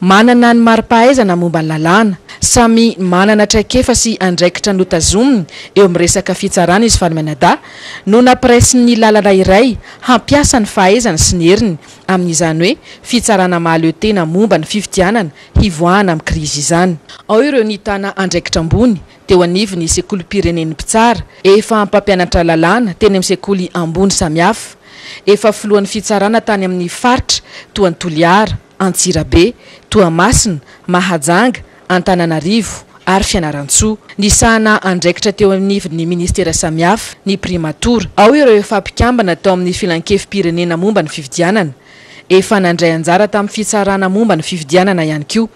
Manana ny mari-pahaizana momba ny lalàna. Samy manana traikefa sy andraikitra notazominy eo amin'ny resaka fitsarana izy fanimaniadahy no nampiraisiny ny lalana iray hampiasa ny fahaizany sy ny heriny amin'izany hoe fitsarana mahaleo tena momba ny fifidianana hivoahana amin'ny krizy izany. Ao ireo nitana andraikitra ambony teo anivon'ny sekolim-pirenen'ny mpitsara, efa mpampianatra lalàna teny amin'ny sekoly ambony samihafa, efa filohan'ny fitsarana tany amin'ny faritra toa an'i Toliara, Antsirabe, Toamasina, Mahajanga, Antananarivo ary Fianarantsoa. Nisahana andraikitra teo anivon'ny minisitera samihafa ny primatora. Ao ireo efa mpikambana tao amin'ny Filankevi-pirenena momba ny fifidianana. Efa nandray anjara tamin'ny fitsarana momba ny fifidianana ihany koa.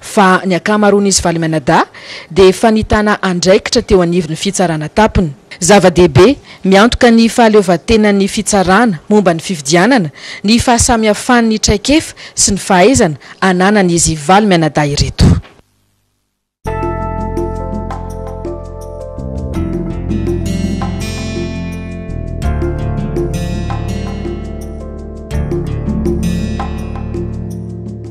fa ny ankamaroan'izy valo mianadahy dia efa nitana andraikitra teo anivon'ny fitsarana tampony. Zava-dehibe, miantoka ny fahaleovantenan'ny fitsarana momba ny fifidianana ny fahasamihafan'ny traikefa sy ny fahaizana ananan'izy valo mianadahy ireto.